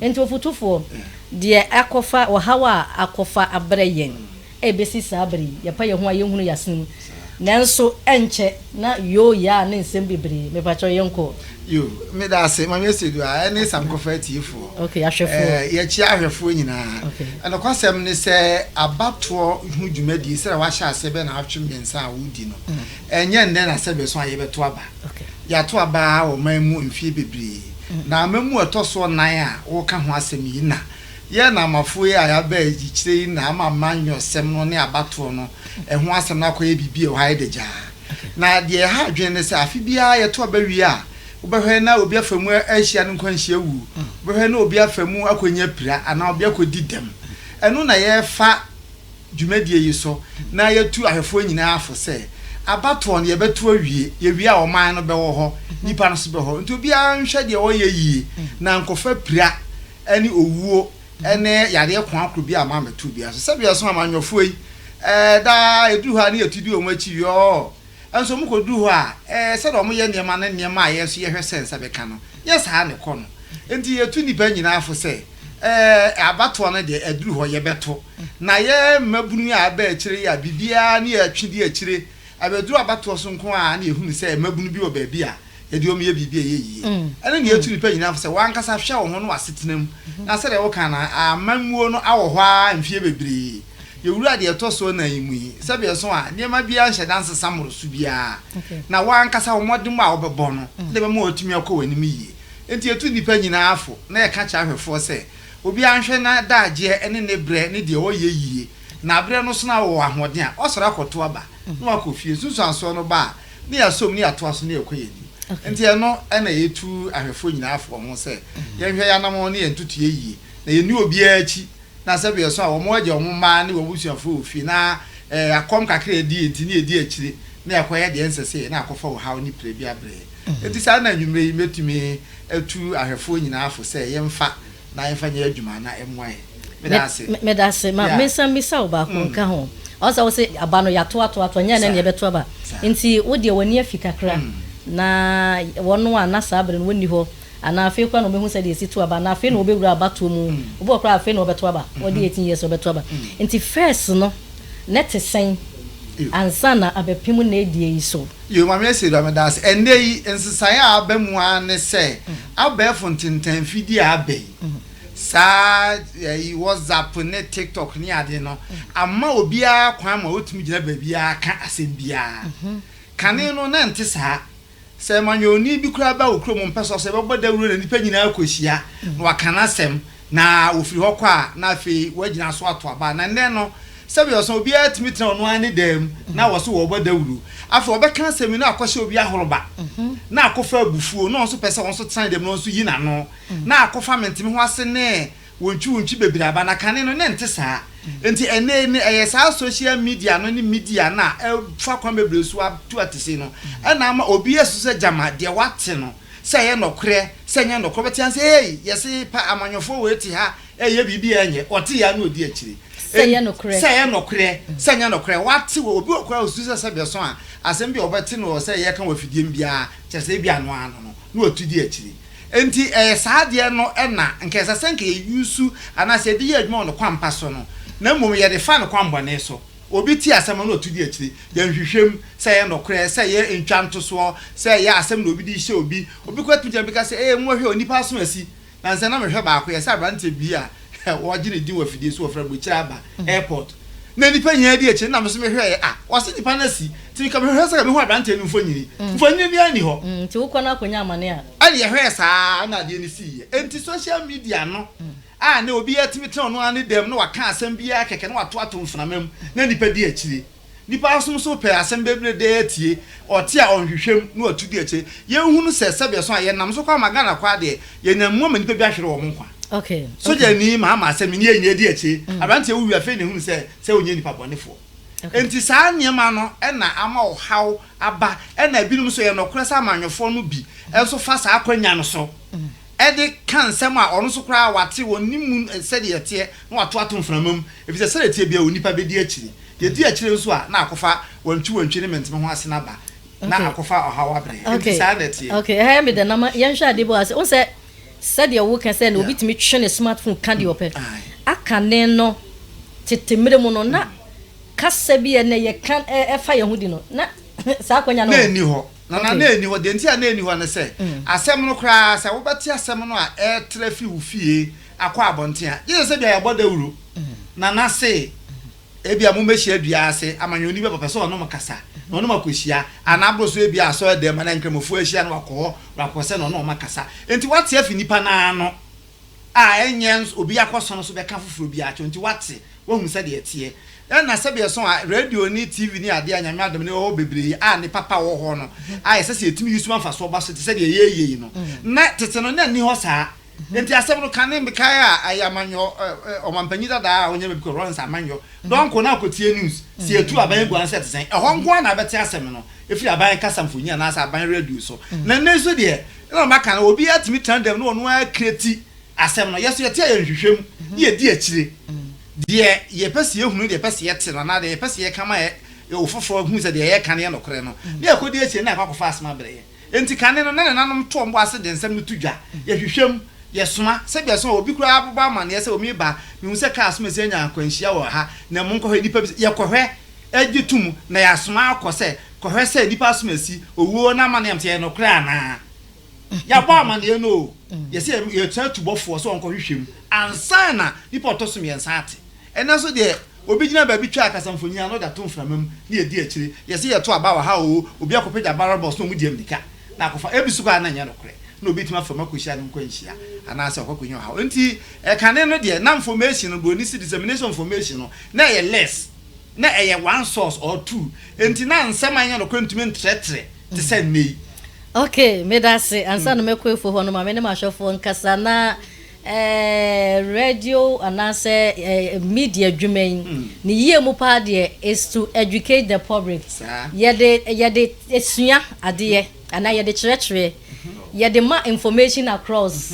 Enti ɔfotufoɔ, deɛ akɔfa, ɔhaw a akɔfa abrɛ yɛn ɛrebɛsi saa berɛ yi, yɛpa yɛn ho a yɛnhunu yɛn asene mu, nanso ɛnkyɛ na yoo yaa ne nsɛm bebree, mepakyɛw yɛnkɔ. Yoo, meda ase Maame Asieduah ɛne Sankofa atiefoɔ. Okay, ahwɛfoɔ. Eh, yɛkyea ahwɛfoɔ nyinaa. Okay. Eh, nokwasɛm ne sɛ abatoɔ ho dwumadie sɛdeɛ wahyɛ aseɛ bɛyɛ nnawɔtwe mmiɛnsa a wodi no, ɛnyɛ nnɛ na sɛdeɛ ɛso a yɛbɛto aba. Okay. Yɛato aba wɔ ɔman mu mfeɛ bebree. Na amamu a ɛtɔ so nnan a wɔreka ho asɛm yi na yɛn Namafo yi a yɛaba ayikyerɛ yi na ama amanyɔsɛm no ne abatoɔ no ho asɛm no akɔyɛ biribi a ɛwɔ ha adagyaa. Na deɛ ɛha adwene ne sɛ afe biara yɛto aba wie a, wobɛhwɛ na obi afa mu ahyia ne nkwanhyia wuo, wobɛhwɛ na obi afa mu akɔnya pira anaa obi akɔdi dɛm. Ɛno na yɛrefa. dwumadie yi so na yɛtu ahwɛfoɔ nyinaa fo sɛ abatoɔ no yɛbɛto awie, yɛwie a ɔman no bɛwɔ hɔ, nnipa no nso bɛwɔ hɔ nti obiara nhwɛ deɛ ɔyɛ yie na ankɔfa pira ne owuo ne yadeɛ koakoro biara mma ammɛto obiara so. Sɛdeɛ ɛso amanyɔfoɔ yi, ɛɛ, daa ɛduru hɔ a ne yɛtu di wɔn akyi, yɔɔ. Nanso wɔkɔduruu hɔ a, ɛyɛɛ sɛdeɛ wɔyɛ nneɛma ne nneɛma a yɛn nso yɛhwɛ sɛ nsa bɛka no, nyɛ saa na ɛkɔ no. Enti yɛtu nnipa nyinaa fo sɛ, Ɛɛ, abatoɔ no deɛ, aduru hɔ, yɛbɛto. Na yɛn mmabunu yi a aba akyire yi a biribiara nni yɛn twe di akyire, abɛduru abatoɔ so nko ara na yɛhunu sɛ mmabunu bi wɔ baabi a yɛde wɔn yɛ biribi a ɛyɛ yie. Ɛno na yɛtu nnipa nyinaa fo sɛ, W'ankasa hwɛ wo ho ne w'asetena mu, na sɛdeɛ woka no, amammuo no awɔ hɔ ara mfeɛ bebree. Yɛwura deɛ ɛtɔ so nnan yi mu yi, sɛdeɛ ɛso a, nneɛma biara nhyɛ da nsesa mmoroso biara, na wo ara ankasa wo mmɔdemmɔ a wobɛbɔ no na ɛbɛma woatumi akɔ w'anim yie. Enti yɛtu nnipa nyinaa fo na yɛka kyerɛ ahwɛfoɔ sɛ, obiara nhwɛ n'adagyeɛ ne ne berɛ ne deɛ ɔyɛ yie, na aberɛ no so na ɔwɔ ahoɔden a, wasɔre akɔto aba na wakɔ fie. Nsunsuansoɔ no ba a, na yɛasɔ mu na yɛatoa so na yɛkɔ yɛn anim. Enti ɛno na yɛtu ahwɛfoɔ nyinaa fo wɔ ho sɛ, yɛnhwɛ yɛn anammɔn ne yɛn ntotoeɛ yie, na yɛnni obiara akyi na sɛ bɛyɛ so a wɔn agya, wɔn mmaa ne wɔn abusuafoɔ wɔ fie na akɔm kakra a ɛdii nti ne ɛdi akyire na ɛkɔyɛ deɛ ɛnsɛ sɛ ɛyɛ na akɔfa ɔhaw ne pire bi abrɛ yɛn. Enti saa na anwummerɛ yi mɛtumi atu ahwɛfoɔ nyinaa fo sɛ yɛmfa na yɛmfa nyɛ adwuma na ɛmmoa yɛn. Meda ase. Meda ase. Ma mensan mmisa wo baako nka ho. Ɔho sɛ wose aba no yɛato ato ato ɛnyɛ ɛnnɛ na yɛbɛto aba nti wo deɛ w'ani afi kakra na wɔn a na saa bere no wɔnni hɔ Anaa afei koraa na wɔbɛhu sɛdeɛ ɛsi to aba, anaa afei na wɔbɛwura abatoɔ mu. Obi wɔ hɔ koraa a, afei na ɔbɛto aba. Wadi eighteen years a, ɔbɛto aba. Nti first no, na ɛte sɛn ansa na abɛpem nnaadie yi so? Yo, Maame Asiedu, meda wo ase. Ɛnnɛ yi, nsesaeɛ a aba mu ara ne sɛ, abɛɛfo ntentan mfidie a aba yi, saa ɛyi WhatsApp ne TikTok ne adeɛ no, ama obiara kwan ma ɔtumi gyina baabiara ka asɛm biara. Kane no, na ɛnte saa. Sɛ amanyɔni bi koraa ba wo kurom mpɛ sɛ ɔsɛ bɛbɔ dawuro na nnipa nyinaa kɔhyia na waka n'asɛm na wɔfiri hɔ kɔ a, na afei wɔagyina so ato aba. Na nnɛ no, sɛbe ɔsɛ obiara tumi tena ɔno ara ne dan mu na wɔse wɔrebɔ dawuro. Afei ɔbɛka asɛm yi na akɔhyɛ obi ahoroba na akɔfa abufuo na ɔno nso pɛ sɛ ɔno nso tena ne dɛm na ɔno nso yi n'ano na akɔfa menteme ho ase ne Wontwiwontwi bebree aba na kane no na ɛnte saa. Enti ɛnnɛ yi no ɛyɛ saa social media no ne media no a ɛfa kwan bebree so atu atese no na ama obi asusu sɛ gyama deɛ wate no sɛ ɛyɛ nɔkorɛ sɛ ɛnyɛ nɔkorɛ. Wobɛte ase sɛ ei yɛse pa amanyɔfoɔ wei te ha ɛyɛ biribi a ɛnyɛ, ɔte yɛ a na ɔdi akyire sɛ ɛyɛ nɔkorɛ sɛ ɛyɛ nɔkorɛ sɛ ɛnyɛ nɔkorɛ. Wate wɔ obi wɔ hɔ koraa a ɔsusu sɛ sɛdeɛ ɛsõ a asɛm bi a ɔbɛte no wɔ sɛ yɛka wɔ afidie mu biara kyerɛ sɛ ebia ɛno ara no no na watu di akyire. Enti ɛyɛ saa adeɛ no na nka ɛsɛ sɛ nka yɛ use anaa sɛ yɛde yɛ adwuma wɔ ne kwan pa so no, na mmom yɛde fa ne kwan bɔne so. Obi tie asɛm no na ɔtu di akyire. Yɛ nhwehwɛ mu, sɛ ɛyɛ nokorɛ, sɛ ɛyɛ ntwa ntosoɔ, sɛ ɛyɛ asɛm na obi de rehyɛ obi. Obi koraa tumi gyina bi ka sɛ, Ee, mommɔhwɛ o, nnipa aso asi. Nansa yi na mehwɛ baako, yɛsɛ aberanteɛ bi a. Wɔgye ne din wɔ afidie so wɔ frɛ Bokyire Aba Airport. Na nnipa nyinaa di akyire. Nna me nso mehwɛeɛ. Ah, wɔse nnipa no asi. Nti nka mehwehwɛ sɛ nka mehu aberanteɛ no mfonini. Mfonini biara nni hɔ. Mm, nti wokɔ no akɔnya amane a. Ɛna yɛhwɛɛ saa ara na adeɛ no siiɛ. Enti social media no a na obiara tumi tena ɔno ara ne dam na waka asɛm biara kɛkɛ na wato ato mframa mu na nnipa di akyire. Nipa asom nso pɛ asɛm bebire dɛ atie, ɔte a ɔnhwehwɛ mu na watu di akyire. Yɛn hu no sɛ sɛdeɛ so a yɛn nam so kɔ ama Ghana kwaa deɛ, yɛn nam mu ama nnipa bi ahwere wɔn nkwa. Sogya ni maa maa sɛ me nie nyɛ di akyire, abranteɛ wo wi afei na ehunu sɛ sɛ onyɛ nipa bɔne foɔ. Enti saa nneɛma no na ama ɔhaw aba ɛna ebinom nso ɛyɛ nɔkorɛ sɛ amanyɔfoɔ no bi nso fa saa akwanya no so de ka nsɛm a ɔno nso koraa wate, ɔnim mu sɛdeɛ ɛteɛ, na wato ato mframa mu, ɛfiri sɛ sɛdeɛ ɛteɛ biara onipa bɛdi akyire. Deɛ ɛdi akyire nso a, na akɔfa wantwiwantwi ne menteme ho asene aba, na akɔfa ɔhaw abrɛ. Enti saa na ɛteɛ. Okay, okay, ɛha yɛ me dɛ, na ma yɛnhwɛ adeɛ bi wɔ ha. Wohu sɛ sɛdeɛ woka sɛ na obi tumi twe ne smart phone ka deɛ ɔpɛ, akane no, tete mmerɛ mu no, na kasa bi a ɛnnɛ yɛka ɛfa yɛn ho di no, na saa akwanya no wɔ hɔ. Na na na enni hɔ. Deɛ enti a na enni hɔ ne sɛ, asɛm no koraa, sɛ wobɛte asɛm no a ɛretra fi wo fie akɔ abɔnten a, gye sɛ sɛ bi a yɛabɔ dawuro na na se ebia mommɛhyia dua ase ama nea onni bɛ pɛpɛ sɛ ɔne mo kasa na ɔne mo akɔhyia, anaa boro so ebia asɔredan mu anaa Nkramofoɔ ahyia na wakɔ hɔ, wakɔ sɛ na ɔne wɔn akasa. Enti woate afi nnipa no ano. a ɛnyɛ nso obi akɔsɔ no so bɛka foforɔ bi akyerɛ wo nti woate, woahu sɛdeɛ ɛteɛ. Ɛna sɛdeɛ ɛsɔn a radio ne TV ne adeɛ a Nyame adom no ɛwɔ hɔ bebree a ne papa wɔ hɔ no a ɛsɛ sɛ yɛtumi use ma mfasoɔ ba so te sɛ deɛ yɛreyɛ yi no, na tete no na ɛnni hɔ saa. Nti asɛm no kane mekae a ɛyɛ amanyɔ ɔmampanyin dada a ɔnyɛ baabi kɔ Lawrence Amanyɔ, Donkor na akɔtie news sɛ yɛtu aban agu ansa ɛte sɛn. Ɛhɔ nko ara na wobɛte asɛm no ɛfiri aban kasa mfonyin anaasɛ aban radio so. Na nnɛ nso deɛ Ɛna ɔma ka no, obiara tumi tena dɛm na ɔno ara kreti asɛm no. Yɛ so yɛte a yɛnhwehwɛ mu na yɛdi akyire deɛ yɛpɛ sɛ yɛhunu, deɛ yɛpɛ sɛ yɛte no anaa deɛ yɛpɛ sɛ yɛka ma ofoforɔ hunu sɛ deɛ yɛreka no yɛ nokorɛ no, na yɛkɔdi akyire no na yɛakɔ akɔfa asɛm abrɛ yɛn. Enti kane no, na ne nanom toɔ mmɔ ase de nsɛm no to dwa. Yɛhwehwɛ mu. Yɛsoma. Sɛdeɛ ɛsõ a, obi koraa abobɔ amanneɛ sɛ, Omeeba, mehunu sɛ kaa so masi anya akwanhyia wɔ ha, na monkɔhwɛ. Nnipa bisa, yɛkɔhwɛ. gye to mu na yɛasoma akɔ sɛ kɔhwɛ sɛ nnipa asom asi, owuo no amanneɛ nso ɛyɛ nokorɛ anaa. Yɛabɔ amanneɛ no oo, yɛsɛ yɛ yɛsoma tu bɔfoɔ sɛ ɔnkɔhwehwɛ mu ansa na nnipa ɔtɔ so mmiɛnsa ate. Ɛnnɛ nso deɛ, obi gyina baabi twa akasamfonin a na ɔde ato mframa mu na yɛdi akyire, yɛsɛ yɛto aba wɔ ha oo, obi akɔpagya ballot box na wɔn di mmirika na akɔfa, ebi nso koraa na ɛnyɛ nokorɛ na obi atumi afa mu akɔhyia ne nkwanhyia anaa sɛ ɔkɔ akɔnya ɔhaw. Enti, kane no deɛ, na nfɔmehyin no, buroni se dissemination nfɔmehyin no, na ɛyɛ less. na ɛyɛ one source or two, enti na nsɛm a ɛnyɛ nokorɛ ntumi ntrɛtrɛ te sɛ nnɛ yi. Ok, medase. Ansa na mɛkɔ afuo hɔ no, ma me ne m'ahwɛfoɔ nkasa. Na eh, radio anaasɛ eh, media adwuma yi, ne yie mu paa deɛ is to educate the public. Saa. Yɛde, yɛde sua adeɛ, anaa yɛde kyerɛkyerɛ, yɛde ma information across.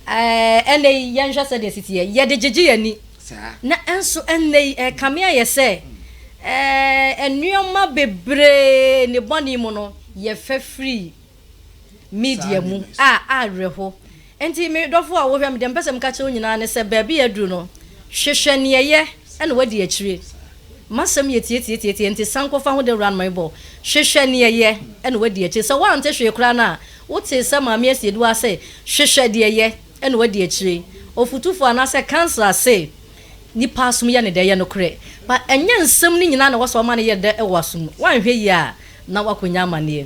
Eh, ɛnnɛ yi, yɛnhwɛ sɛdeɛ ɛsi teɛ, yɛde gyegye yɛn ani. saa. Na nso ɛnnɛ yi, ɛrekame ayɛ sɛ nneɛma bebree nnebɔne mu no, yɛfa firi media mu a awerɛho. Enti me dɔfo a wohwɛ me, deɛ mepɛ sɛ meka kyerɛ wo nyinaa ne sɛ, baabi a aduru no, hwehwɛ nea ɛyɛ na woadi akyire. M'asɛm yɛ tiatiatiatia, enti san kɔfa ho dawura no ma mebɔ wo. Hwehwɛ nea ɛyɛ na woadi akyire. Sɛ woante hwee koraa no a, wotee sɛ Maame Asiedu aka sɛ, Hwehwɛ deɛ ɛyɛ. ɛna wadi akyire ɔfotufo anaasɛ councilor se nipa asom yɛ ne dɛ yɛ nokorɛ but ɛnyɛ nsɛm no nyinaa na ɛwɔ sɛ ɔma no yɛ dɛ wɔ asom mu wanhwɛ yie a na wakɔnya amaneɛ.